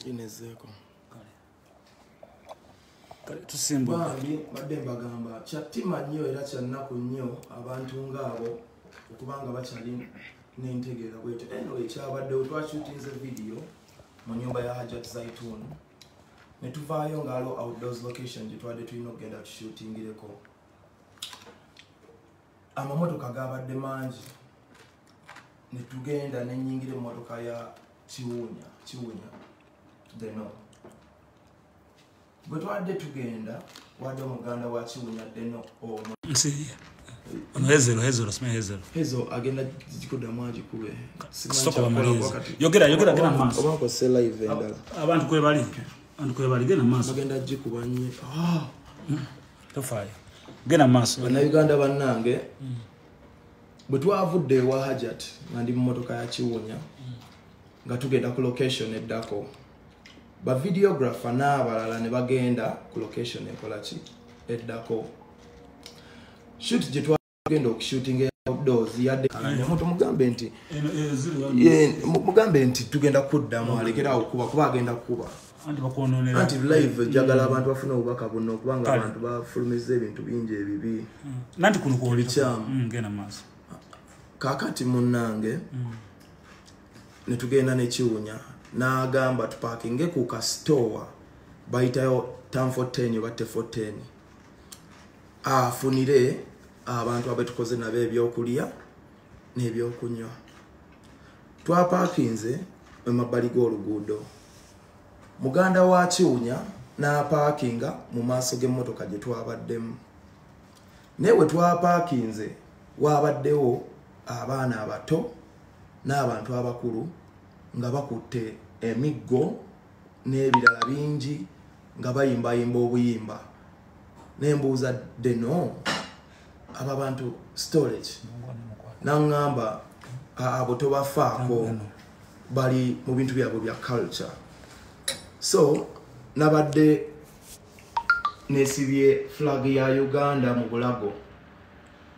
inezeeko tusimbabambi badde mbagamba kyattima nnyo era kyannaku nnyo abantu ngaabo okubanga bakyali nentegeera bwete eno ekyabaddewo twakyutinze vidiyo mu nyumba ya hajat zaitun netuvaayo ngaalo outdoors location gyetwade tulina okugenda tushutingireko amamotoka gabadde mangi netugenda nenyingira emotoka ya kiwunya kiwunya deno bwe twadde tugenda wadde omuganda wa kiwunya deno omu agenda kikudamu agikube abantu kwebali abantu kwebali genda maaso agenda agikuba nyo ah! hmm. tofaayo genda maaso bannayuganda bannange mm. bwe twavudde ewa hajat nga ndi mu motoka ya kiwunya mm. nga tugenda ku location eddako bavideographer n'abalala ne bagenda ku location ekolaki eddako shut genda okushootinga eya outdoors yadde omuntu mugambe nti mugambe nti tugenda kuddamu alekera awo kuba kuba agenda kukuba anti live mm. jagala abantu bafuna obubaka buno okubanga abantu bafulumiza ebintu bingi ebibi bikyamu mm, mm, kakati munange netugenda nekiwunya nagamba tupakinge ku kasitowa bayitayo tan 14 oba te 14 afunire abantu abetukoze nabo ebyokulya n'ebyokunywa twapakinze mu mabbali g'oluguudo muganda wa kiwunya n'apaakinga mu maaso g'emmotoka gye twabaddemu naye we twapaakinze waabaddewo abaana abato n'abantu abakulu nga bakutte emiggo n'ebirala bingi nga bayimbayimba obuyimba nembuuza deno abo abantu storage naŋŋamba abo tobafaako bali mu bintu byabwe bya culture so nabadde nesibye flag ya uganda mu bulago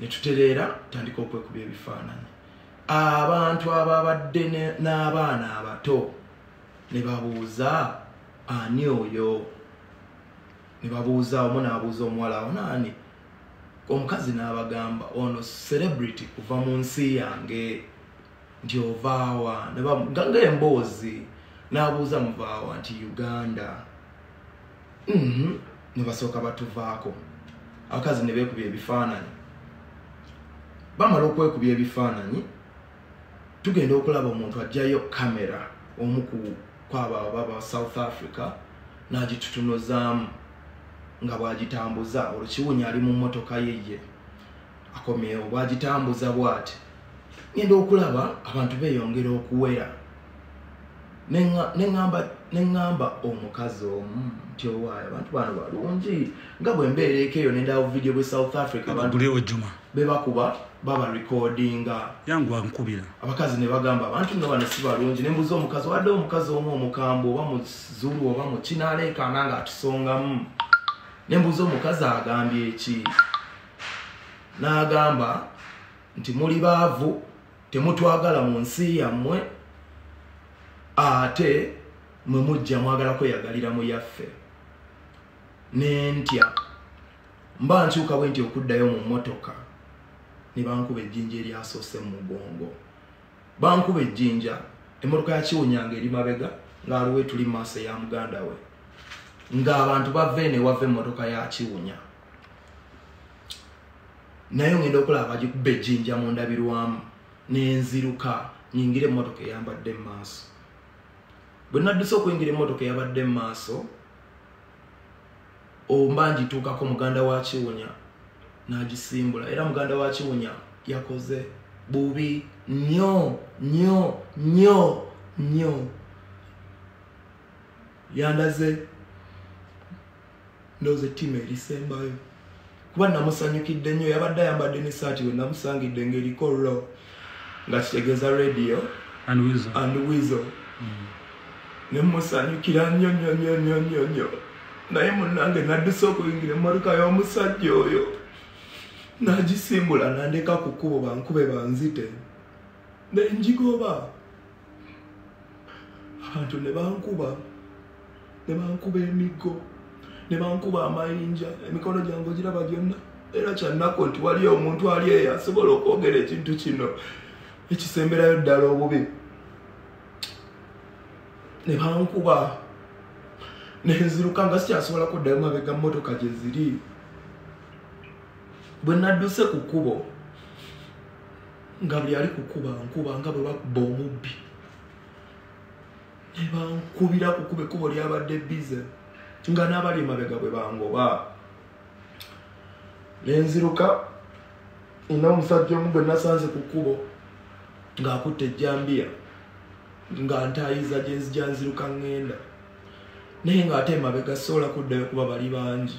netutereera tandika okwekuba ebifaananyi abantu ababadde n'abaana abato ne babuuza ani oyo ne babuuza omu n'abuuza omuwala awo naani omukazi n'abagamba ono celebrity kuva mu nsi yange nti ovaawa nga emboozi n'abuuza muvaawa nti uganda Mhm. nebasooka batuvaako abakazi nebekuba ebifaananyi bamala okwekuba ebifaananyi tugenda okulaba omuntu ajjayo kamera omu kwabo ababa south africa nagitutunuzaamu nga bwagitambuza olwo kiwunya ali mu motoka yeye akomyewo bwagitambuza bwati ngenda okulaba abantu beyongera okuwera neŋamba omukazi omu nti owaayo abantu bano balungi nga bwembeera eko eyo nendawo vidiyo bwe south africa bebakuba baba recordinga yangu ankubira abakazi ne bagamba abantu nga bano si balungi nembuza omukazi wadde omukazi omu omukambwe oba muzulu oba mukinaleekaana nga atusongamu nembuza omukazi agambye eki n'agamba nti muli baavu temutwagala mu nsi yammwe ate mwe mujja mwagala kweyagalira mu yaffe nentya mba nkyuka bwe nti okuddayo mu mmotoka ne bankuba ejjinja eryasoose mu mugongo bankuba ejjinja emmotoka yakiwunyanga eri mabega ng'aliwo etuli mu maaso eya muganda we ng'abantu bava eno ewava emmotoka yakiwunya naye ŋenda okulaba bagikuba ejjinja mu ndabirwamu nenziruka nyingire emmotoka eyambadde mu maaso bwe nadduse okuyingira emmotoka eyabadde mu maaso omba ngituukako muganda wa kiwunya n'agisimbula era muganda wa kiwunya yakoze bubi nyo nyo nyo nyo yandaze ndoze timu erisembayo kuba namusanyukidde nnyo yabadde ayambadde ne saati we namusangidde ngaeriko ro nga kitegeeza radio and wizo mm. nemusanyukira nnyo nnyo nnyo nnyo nnyo nnyo naye munange nadduse okuyingira emmotoka y'omusajja oyo nagisimbula nandeka ku kkubo bankube banzite nenjigoba abantu ne bankuba ne bankuba emiggo ne bankuba amayinja emikono gyange ogiraba gyonna era kyannaku nti waliyo omuntu ali eyo asobola okwogera ekintu kino ekisemberayo ddala obubi ne bankuba nenziruka nga sikyasobola kuddayo mabega mmotoka gye ziri bwe nadduse ku kkubo nga buli ali kukuba nkuba nga bwe bakuba omubbi ne bankubira kukuba ekkubo lyabadde bize nga n'abali emabega bwe bangoba ne nziruka ina omusajja omu gwe nasanze ku kkubo ng'akutte ejjambiya nga ntaayiza gye nzija nziruka ŋŋenda naye ng'ate emabega sisobola kuddayo kuba bali bangi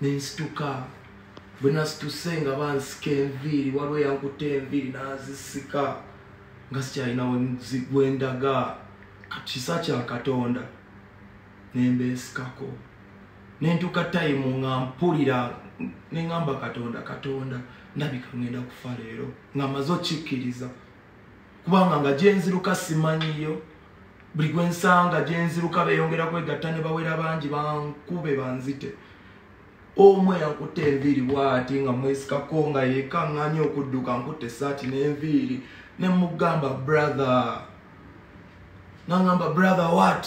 nensituka bwe nasituse nga bansika enviiri waliwo eyankuta enviiri nazisika nga sikyalina gwendaga kisa kya katonda nembesikako nentuka tayimu nga mpulira nengamba katonda katonda ndabika ngenda kufa leero nga maze okikkiriza kubanga nga gyenziruka simanyiyo buli gwensanga gyenziruka beyongera kwegatta ne bawera bangi bankube banzite omu eyakutte enviiri bwati nga mwesikako nga yekaŋŋanya okudduka nkutte esaati n'enviiri ne mugamba brother nangamba brother what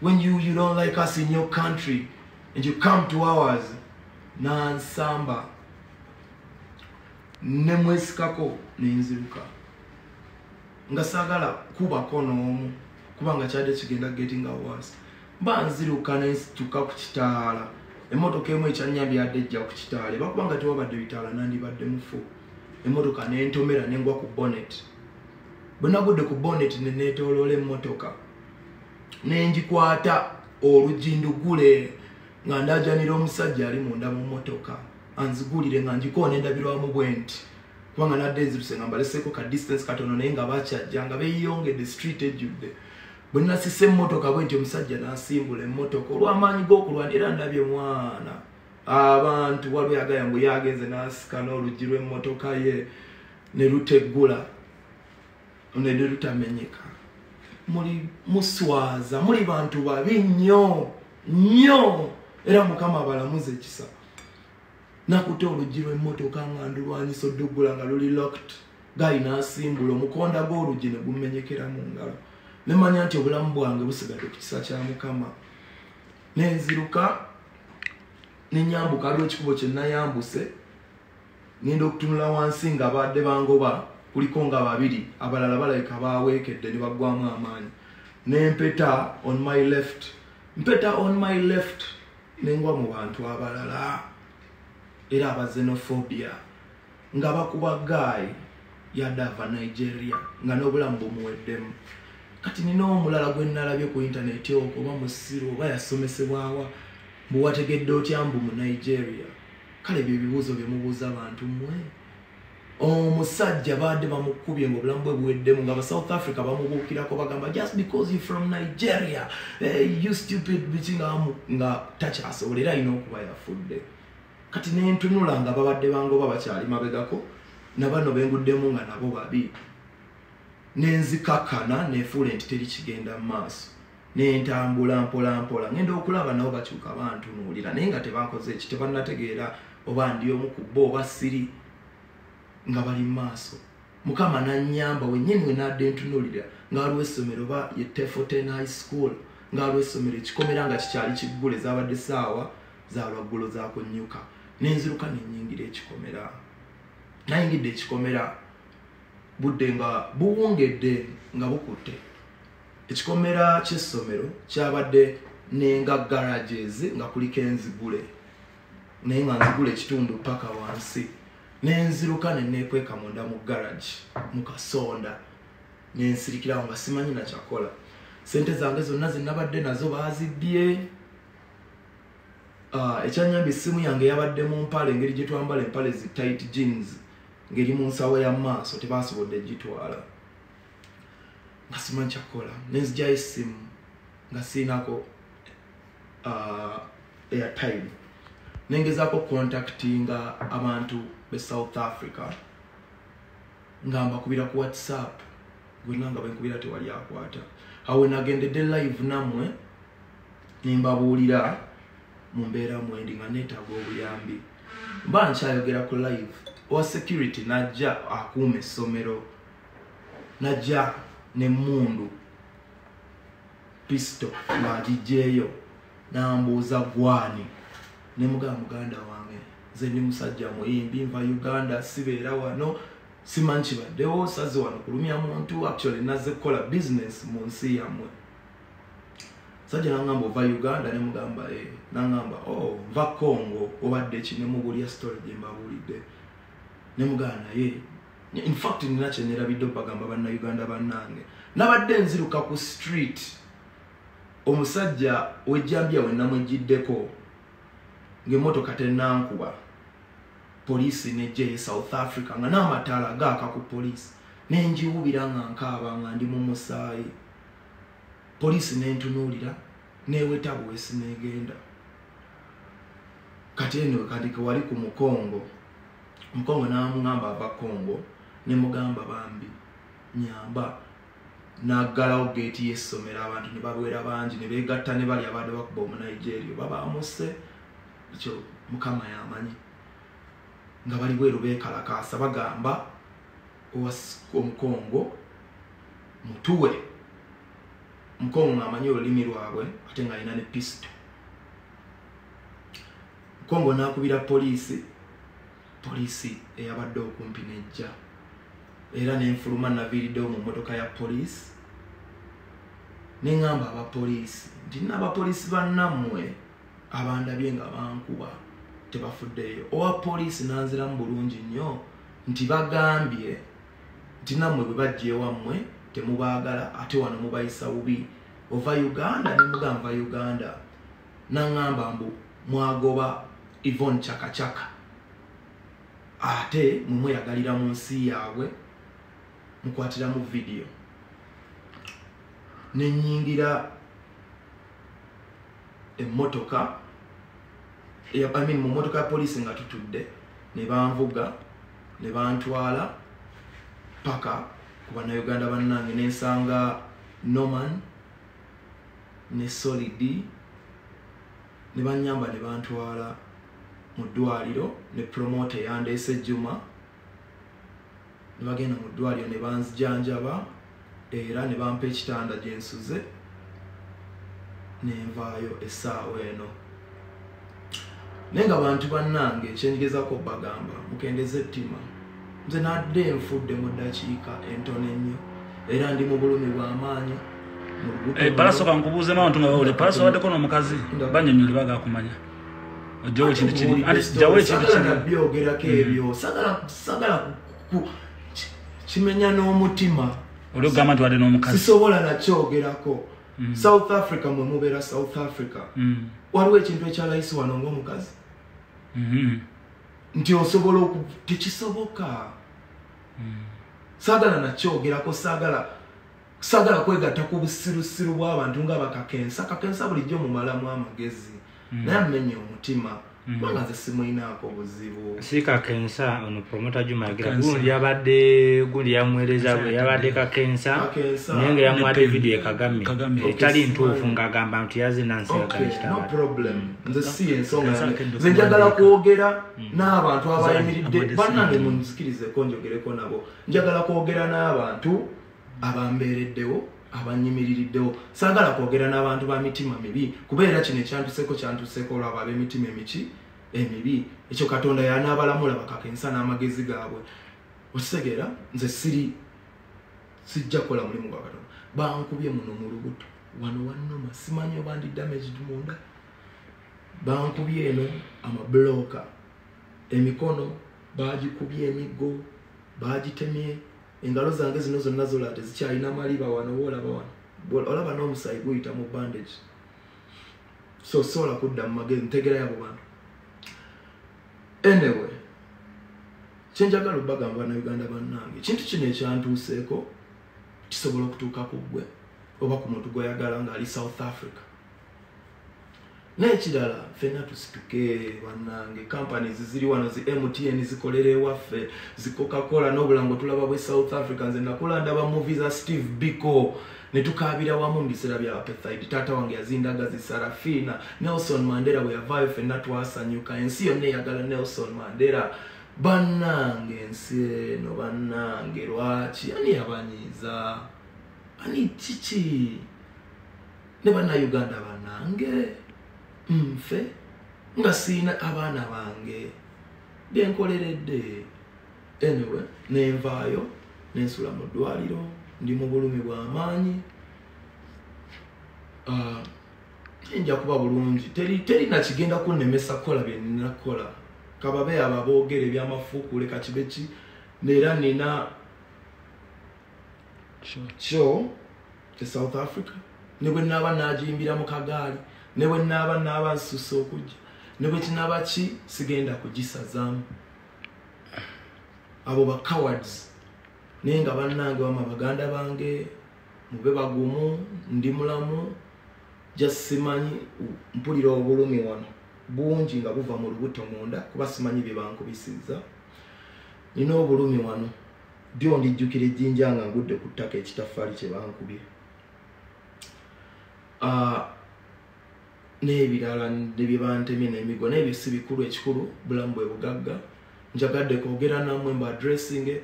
when you, you don't like us in your country and you come to ours nansamba ne mwesikako ne nziruka nga sagala kubako n'omu kubanga kyadde kigenda getting awas mba nziruka ne nsituka ku kitaala emmotoka emu ekyanyambi yadde ejja ku kitaala eba kubanga tewabadde bitaala nandibadde mufu emmotoka nentomera nengwa ku bonnet bwe nagudde ku bonnet ne neetooloola emmotoka nenjikwata oluggi ndugule nga ndajanira omusajja ali munda mu motoka anzigulire nga njikoona endabirwamu bwe nti kubanga nadde nziruse nga mbaleseeko ka distance katono naye nga bakyajja nga beyongedde street ejjudde bwe nasisa emmotoka bwe nti omusajja nasimbula emmotoka olw'amaanyi g'okulwana era ndabye mwana abantu waliwo yagaya mbu yagenze nasika n'oluggi lw'emmotoka ye ne luteggula onede lutamenyeka muli muswaza muli bantu babi nnyo nnyo era mukama abalamuza ekisa nakuta oluggi lwemmotoka nga ndulwanyisa odduggula nga luli locked gayi nasimbula omukonda gw'oluggi ne gumenyekera mu ngalo nemanya nti obulamu bwange busigadde ku kisa kya mukama nenziruka nenyambuka aliwo ekikubo kyenayambuse ngenda okutunula wansi nga baadde bangoba kuliko nga babiri abalala balabika baweekedde ne baggwamu amaanyi nempeta on my left mpeta on my left nengwa mu bantu abalala era abazenophobia nga bakuba guy yadde ava nigeria nga n'obulamu bumuweddemu kati nina omulala gwe nalabye ku intaneti okwo oba musiru oba yasomesebwawa mbuwategedde otya mbu mu nigeria kale ebyo ebibuuzo byemubuuza abantu mmwe omusajja baadde bamukubye nga obulamu bwe buweddemu nga basouth africa bamubuukirako bagamba just because you from nigeria eh, you stupid biki nga takyasobola era alina okuba yafudde kati nentunula nga babadde bangoba bakyali mabegako nabano benguddemu nga nabo babi nenzikakana nefuula nti teri kigenda mu maaso nentambula mpolampola ngenda okulaba nabo bakyuka bantunuulira naye nga tebakoze eki tebanategeera oba ndi omu ku bo oba siri nga bali mu maaso mukama nanyamba wenyini wenadde ntunuulira nga waliwo essomero oba ye tefoten high school nga waliwo essomero ekikomera nga kikyali kiggule zabadde saawa zalwaggulo zakunyuka nenziruka nenyingira ekikomera nayingidde ekikomera budde nga buwungedde nga bukutte ekikomera ky'essomero kyabadde nenga garages nga kuliko enzigule naye nga nzigula ekitundu paka wansi nenziruka nenekweka munda mu garage mukasonda nensirikirawo nga simanyi nakyakola sente zange zonna zinabadde nazo bazibbye ah, ekyanyamba essimu yange yabadde mu mpale engeri gyetwambala empale zi tight jeans ngeri mu nsawo ya maaso tebasobodde gitwala nga simanyi kyakukola nenzijayo essimu nga siinako uh, airtime nengezako contactinga abantu be south africa nga mbakubira ku whatsapp gwena nga benkubira tewali akwata awe nagendedde live namwe nembabuulira mu mbeera mwendi nga neetaaga obuyambi mba nkyayogera ku live owa security najja akuuma essomero najja nemundu pisto ngagijjeeyo nambuuza gwani nemugaa muganda wange nze ndi musajja muyimbi nva uganda sibeera wano simanyi kibaddewo saze wano kulumya muntu actually naze kukola business mu nsi yamwe sajja nangamba ova uganda nemugamba e eh, nangamba o oh, nva congo obadde ki nemubulya story gyembabuulidde nemugaa naye in fact nina kyenerabidde bagamba bannayuganda bannange nabadde nziruka ku street omusajja wejjambya wenamwejjiddeko ngaemotoka tenankuba poliisi nejja eye south africa nga n'amataala gaaka ku poliisi nenjiwubira nga nkaaba nga ndi mu musaayi poliisi nentunuulira neweta bwesi negenda kati eno wekandike wali ku mukongo mukongo namugamba ava kongo nemugamba bambi nyamba naggalawo geeti yessomero abantu ne babwera bangi ne beegatta ne bali abadde bakuba omunigeria oba bamuse ekyo mukama yamanyi nga bali bweru beekalakaasa bagamba omukongo mutuwe mukongo ng'amanyi olulimi lwabwe ate ng'alina ne pisito mukongo n'akubira poliisi poliisi eyabadde okumpi nejja era nenfuluma naviiriddewo mu mmotoka ya poliisi neŋamba abapoliisi nti naabapoliisi bannammwe abandabye nga bankuba tebafuddeeyo owa poliisi nanziramu bulungi nnyo nti bagambye nti nammwe bwe bajja ewammwe temubaagala ate wano mubayisa bubi ova uganda ne muganva uganda naŋŋamba mbu mwagoba ivon cakacaka ate mwe mweyagalira mu nsi yaabwe mukwatiramu vidiyo ne nnyingira emmotoka mu mmotoka ya poliisi nga tutudde ne banvuga ne bantwala paka ku bannayuganda bannange ne nsanga norman ne solidi ne bannyamba ne bantwala mu ddwaliro ne promota eyandeese juma ne bagenda mu ddwaliro ne banzijanjaba era ne bampa ekitanda gye nsuze nenvaayo essaawa eno naye nga bantu bannange ekyenjigezako bagamba mukendeza ettima nze nadde enfudde mu ddakiika entono ennyo era ndi mu bulumi bw'amaanyi balasoka eh, nkubuuzemu abantu nga bawule balaso baddeko n'omukazi banyonyoli bagakumanya ojjawo ekintu kiri anti jjawo ekintu kiribyogerako ebyo sagala kimenya n'omutima olugamba nti wadde n'omukazi sisobola nakyogerako mm. south africa mwe mubeera south africa mm. waliwo ekintu ekyalayisi wano ng'omukazi mm-hmm. nti osobola oku tekisoboka mm. saagala nakyogerako saagala sagala kwegatta ku busirusiru bw'abantu nga bakakensa kakensa bulijjo mumalamu amagezi mm. naye amenye omutima mm. kubanga nze simulinaako buzibu si kakensa ono promota jumagira gundi yabadde gundi yamuweereza bwe yabadde kakensa naye nga yamuwadde vidiyo ekagame etali ntuufu ng'agamba nti yazinansiakanekitano problem nze si ensonga nze njagala kwogera mm. n'abantu abayimiridde banange munzikirizeko njogereko nabo njagala kwogera n'abantu abambeereddewo abanyimiririddewo saagala kwogera n'abantu ba mitima mibi kubeera kino ekyantuseeko kyantuseeko olwabo ab'emitima emiki emibi ekyo katonda yanaabalamula bakakensa n'amagezi gaabwe okitegeera nze siri sijja kukola mulimu gwa katonda bankubye muno mu lubuto wano wannuma simanyi oba ndi damaged munda bankubye eno amabulooka emikono baagikubye emiggo baagitemye engalo zange zino zonna zola tezikyalina maliba wano oba olaba wano olaba n'omusaayi guyita mu bandage so sobola kudda mu magezi ntegera yabo bantu anyway kyenjagala obagamba na uganda bannange ekintu kino ekyantuuseeko kisobola okutuuka ku ggwe oba ku muntu gweyagala ng'ali south africa nekirala fena tusituke banange companies ziri wano zi mtn zikolera ewaffe zikokakola nobulango tulaba bwe south africa nze nakula ndaba movi za steve bico netukabira wamu mubiseera bya apethide taata wange yazindaga zi sarafina nelson mandera bweyavaayo fena twasanyuka ensi yonna eyagala nelson mandera banange ensi eno banange lwaki ani yabanyiiza ani kiki ne bannayuganda banange nfe nga siina abaana bange byenkoleredde anyway nenvaayo nensula mu ddwaliro ndi mu bulumi bwamaanyi ah, nja kuba bulungi teri nakigenda kunnemesa kukola byenina kukola kababe abo aboogera ebyamafuukuule kakibeki neera nina kyo e south africa ne bwe naaba naagiyimbira mu kagaali ne bwe naaba naaba nsusa okujja ne bwe kinaaba ki sigenda kugisazaamu abo ba cowards naye nga bannange wama baganda bange mube bagumu ndi mulamu just simanyi mpulira obulumi wano bungi nga buva mu lubuto munda kuba simanyi bye bankubisiza nina obulumi wano Dyo ndijjukira ejjinja nga ngudde ku ttaka ekitaffaali kye bankubye ah, n'ebirala ne bye bantemye n'emigwa naye byo si bikulu ekikulu bulamu bwe bugagga njagadde kwogera namwe mba adressinge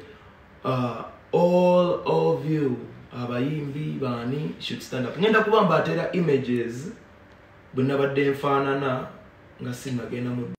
ah, all of you abayimbi baani should stand up ngenda kuba mbateera images bwe nabadde nfaanana nga sinagenda mu